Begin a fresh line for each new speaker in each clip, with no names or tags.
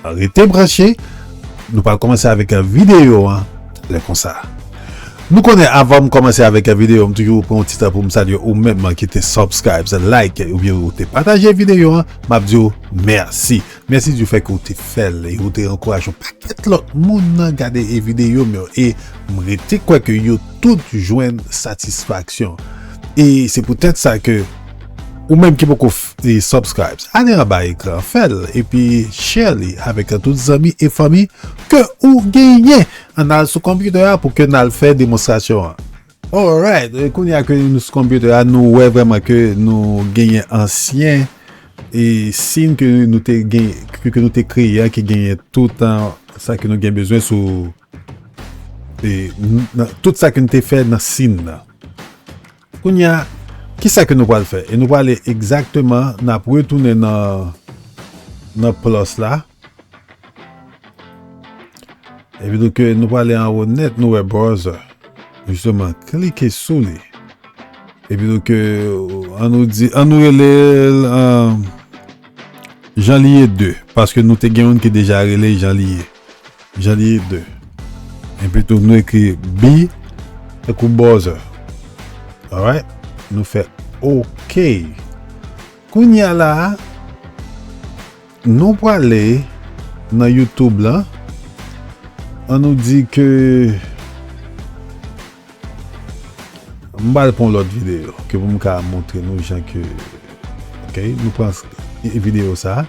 Rete branche, nou pral komanse avèk videyo an lè konsa. Nou konnen avan m komanse avèk videyo m toujou pran yon ti tan pou m salye ou menm ki te subscribes, like oubyen ou te pataje videyo an, m ap di ou mèsi. Mèsi di fèt ke ou te fè l e ou te ankouraje yon pakèt lòt moun nan gade videyo m yo e m rete kwè ke yo tout jwenn satisfaksyon. E se poutèt sa ke. Ou menm ki poko subscribes ale anba ekran an fèl epi share li avèk tout zanmi e fanmi ke ou genyen ann al sou computer a pou ke nal fè demonstration an. Alright kounya ke nou sou computer a nou wè vrèman ke nou genyen ansyen e scene ke nou te genyen ke nou te kreye a ki genyen tout sa ke nou gen bezwen sou e tout sa ke nou te fè nan scene nan. Kounye a, ki sa ke nou pral fè? E nou prale egzakteman, n ap retounen nan, nan plus la. E pi nou ke nou prale anwo nèt, nou wè browser. Jisteman, klike sou li. E pi nou ke, an nou di, an nou rele l, an, Janliye 2. Paske nou te gen youn ki deja rele Janliye. Janvier 2. Enpitou nou ekri bi tankou bòzè. Alright. Nou fè ok. Kounye a la a, nou prale nan YouTube lan. An nou di ke m pral pran yon lòt videyo ke pou m ka montre nou jan ke ok. Nou pran videyo sa a.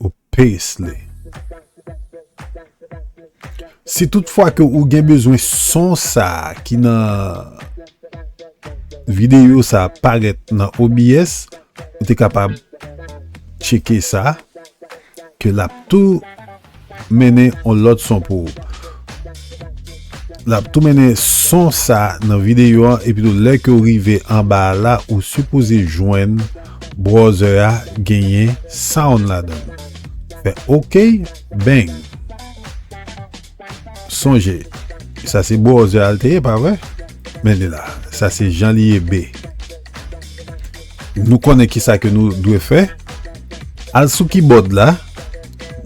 ou paste li. Si tout fwa ke ou gen bezwen son sa ki nan video sa parèt nan OBS, ou te kapab tcheke sa ke lap tou mennen on lòt son pou ou. Lap tou mennen son sa nan video an epi tou lè ke ou rive anba la ou sipoze jwenn Browser a genyen sound ladan l. Fè ok bang. Sonje sa se browser a l te ye pa vre? Men li la. Sa se jan li ye be. Nou konnen kisa ke nou dwe fè. Al sou kibòd la.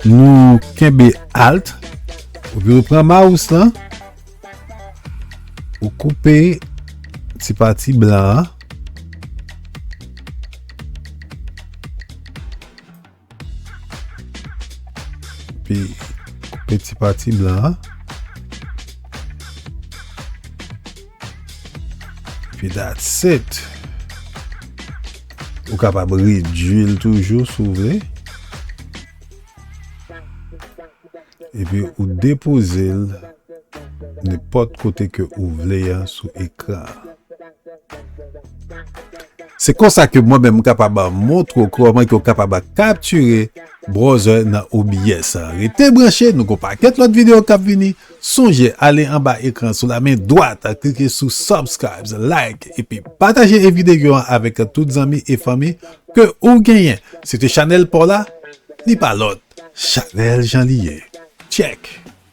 Nou kenbe alt. Ou pran mouse lan. Ou koupe ti pati blan an. Pi koupe ti pati blan an. Pi dat set. Ou kapab redwil toujou sou vle. Epi ou depoze l nenpòt kote ke ou vle a sou ekran an. Se konsa ke mwen menm m kapab a montre w kòman ke w kapab a kaptire browser nan OBS an. Rete branche, nou gen yon pakèt lòt videyo kap vini. Sonje ale anba ekran sou la men dwat, klike sou subscribes, like epi pataje e videyo an avèk tout zanmi e fanmi Ke ou genyen se te chanel paw la li pa lot chanel jan li ye check.